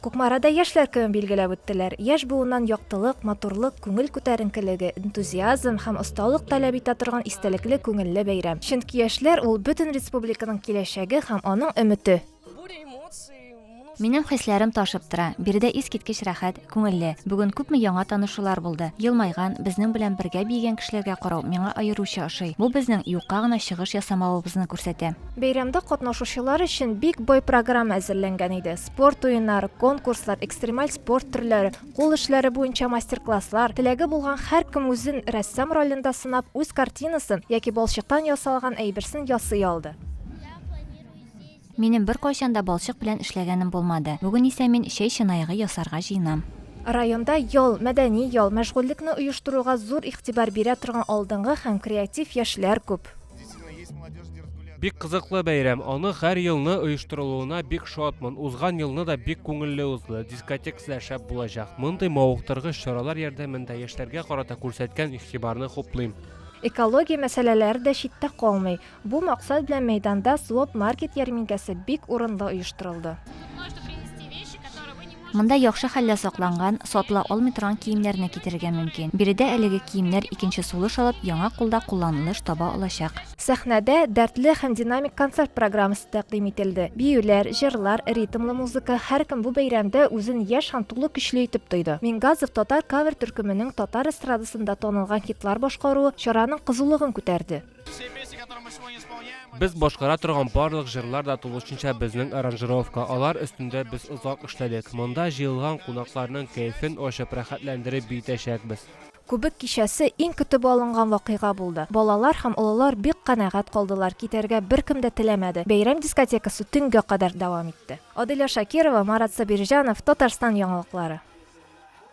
Кукмарада Яшьләр көнен билгеләп үттеләр. Яшь буыннан яктылык, матурлык, күңел күтәренкелеге, энтузиазм һәм осталык таләп итә торган истәлекле күңелле бәйрәм. Чөнки яшьләр ул, бөтен республиканың киләчәге һәм аның өмете. Минем хисләрем ташып тора. Биредә искиткеч рәхәт, күңелле. Бүген күпме яңа танышулар булды. Елмайган, безнең белән бергә биегән кешеләргә карау миңа аеруча ошый. Бу безнең юкка гына чыгыш ясамавыбызны күрсәтә. Бәйрәмдә катнашучылар өчен бик бай программа әзерләнгән иде. Спорт уеннары, конкурслар, экстремаль спорт төрләре, кул эшләре буенча мастер-класслар, теләге булган һәркем үзен рәссам ролендә сынап, үз картинасын яки балчыктан ясалган әйберсен ясый алды. Минем беркайчан да балчык белән эшләгәнем булмады. Бүген исә мин чәй чынаягы ясарга җыенам. Районда ял, мәдәни ял, мәшгульлекне оештыруга зур игътибар бирә торган алдынгы һәм креатив яшьләр күп. Бик кызыклы бәйрәм. Аны һәр елны оештырылуына бик шатмын. Узган елны да бик күңелле узды. Дискотекасы да шәп булачак. Мондый мавыктыргыч чаралар ярдәмендә яшьләргә карата күрсәткән игътибарны хуплыйм. Экология мәсьәләләре дә читтә калмый. Бу максат белән мәйданда Злоп маркет ярминкәсе бик урынлы оештырылды. Монда яхшы хәлдә сакланган, сатыла алмый торган киемнәрне китерергә мөмкин. Биредә әлеге киемнәр икенче сулыш алып, яңа кулда кулланылыш таба алачак. Сәхнәдә дәртле һәм динамик концерт программасы тәкъдим ителде. Биюләр, җырлар, ритмлы музыка, һәркем бу бәйрәмдә үзен яшь һәм тулы көчле итеп тойды. Мингазов татар кавер төркеменең татар эстрадасында танылган хитлар башкаруы чараның кызулыгын күтәрде. Без башкара торган барлык җырлар да тулышынча безнең аранжировка. Алар өстендә без озак эшләдек. Монда җыелган кунакларның кәефен ачып, рәхәтләндереп биетәчәкбез. Күбек кичәсе иң көтеп алынган вакыйга булды. Балалар һәм олылар бик канәгать калдылар, китәргә беркем дә теләмәде. Бәйрәм дискотекасы төнгә кадәр дәвам итте. Аделя Шакирова, Марат Сабирҗанов, Татарстан яңалыклары.